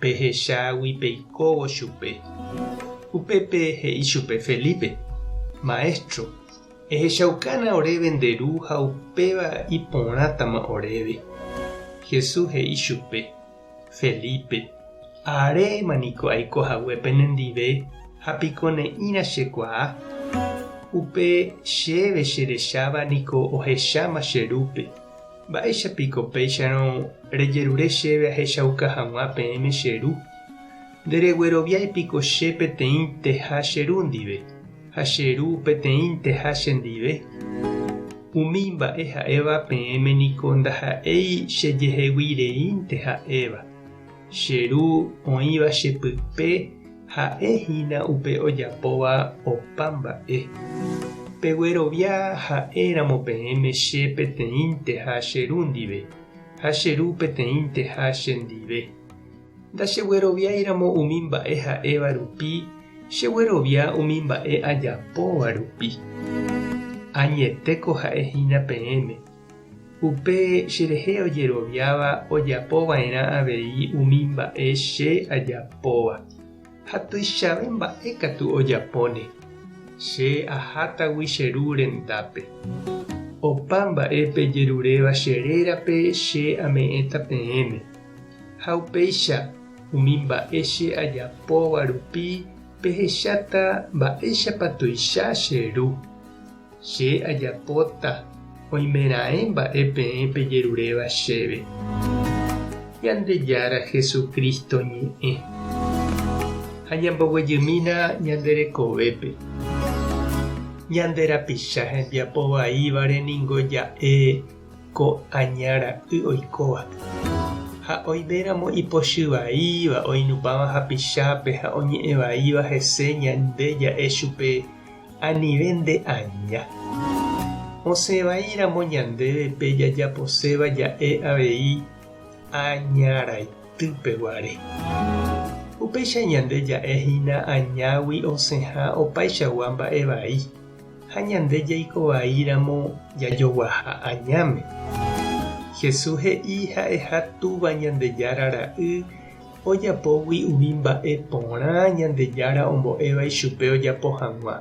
Pehechágui peikóvo chupe. Upépe he'i chupe Felipe, Maestro, ehechaukana oréve nde ru ha upéva iporãtama oréve. Jesús he'i chupe, Felipe, aréma niko aiko hague pene ndive ha piko ne'ĩra chekuaa? Upe chéve cherecháva niko ohecháma che rúpe. Mba'éicha piko péicharõ rejerure chéve ahechauka hag̃ua peẽme che ru? Nderegueroviái piko che peteĩnteha che ru ndive, ha che ru peteĩnteha che ndive? Umi mba'e ha'éva peẽme niko ndaha'éi chejeheguireínte ha'éva. Che ru oĩva che pype ha'e hína upe ojapóva opa mba'e. Peguerovia ha'e ramo peẽme che peteĩnteha che ru ndive, ha che ru peteĩnteha che ndive. Ndachegueroviái ramo umi mba'e ha'éva rupi, cheguerovia umi mba'e ajapóva rupi. Añetéko ha'e hína peẽme. Upe cherehe ojeroviáva ojapo va'erã avei umi mba'e che ajapóva. Ha tuichave mba'e katu ojapóne. Che ahátagui che ru rendápe. Opa mba'e pejeruréva che rérape che ame'ẽta peẽme. Ha upéicha, umi mba'e che ajapóva rupi pehecháta mba'éichapa tuicha che ru. Che ajapóta oimeraẽ mba'e peẽ pejeruréva chéve. Ñandejára Jesucristo ñe'ẽ. Ha ñamboguejymína ñande rekovépe. Ñande rapicha hembiapo vaívare ningo ja'e ko aña ra'y oikóva. Ha oiméramo ipochy vaíva oinupãva hapichápe ha oñe'ẽ vaíva hese ñande ja'e chupe, Anive nde aña. Osẽ vai ramo ñandéve pe jajaposéva ja'e avei añaraitýpe guare. Upéicha ñande ja'e hína añágui osẽha opaichagua mba'e vai, ha ñande jaiko vai ramo jajoguaha añáme. Jesús he'i ha'eha Túva Ñandejára Ra'y ojapógui umi mba'e porã Ñandejára ombo'éva ichupe ojapo hag̃ua.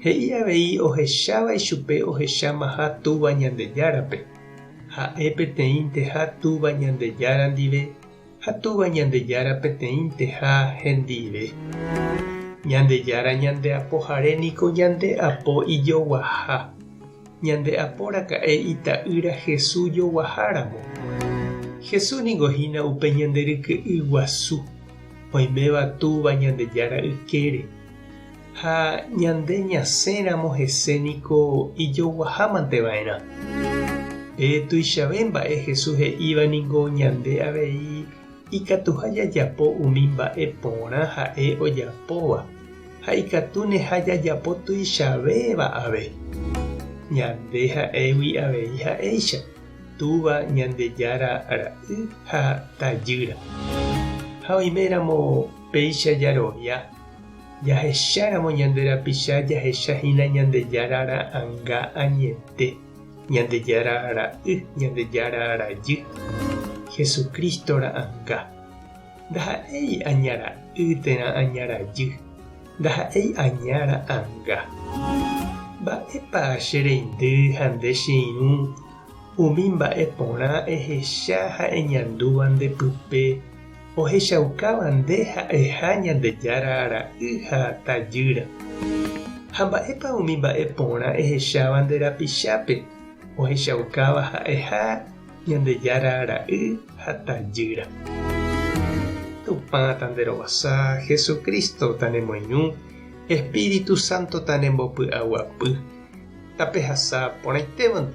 He'i avei ohecháva ichupe ohechamaha Túva Ñandejárape, ha'e peteĩnteha Túva Ñandejára ndive ha Túva Ñandejára peteĩnteha hendive. Ñandejára ñandeapohare niko ñandeapo ijoguaha. ñande aporaka'e Ita'ýra Jesús joguaháramo. Jesús ningo hína upe ñande ryke'y guasu, oiméva Túva Ñandejára ykére. Ha ñande ñasẽramo hese niko ijoguahámante va'erã. Pe tuichave mba'e Jesús he'íva ningo ñande avei Ikatuha jajapo umi mba'e porã ha'e ojapóva, ha ikatúneha jajapo tuichavéva ave. Ñande ha'égui avei ha'éicha, Túva, Ñandejára, Ra'y ha Tajýra. Ha oiméramo péicha jarovia, jahecháramo ñande rapicha jahechahína Ñandejára Ra'anga añete. Ñandejára Ra'y, Ñandejára Rajy, Jesucristo ra'anga. Ndaha'éi aña ra'y térã aña rajy, ndaha'éi aña ra'anga. Mba'épa che reindy ha nde che irũ umi mba'e porã ehecha ha eñandúva nde pype, Ohechaukáva nde ha'eha Ñandejára ra'y ha tajýra. Ha mba'épa umi mba'e porã ehecháva nde rapichápe ohechaukáva ha'eha Ñandejára ra'y ha tajýra. Tupã ta nde rovasa, Jesucristo ta ne moirũ, Espíritu Santo ta ne mbopy'aguapy. Tapehasa porãitévante.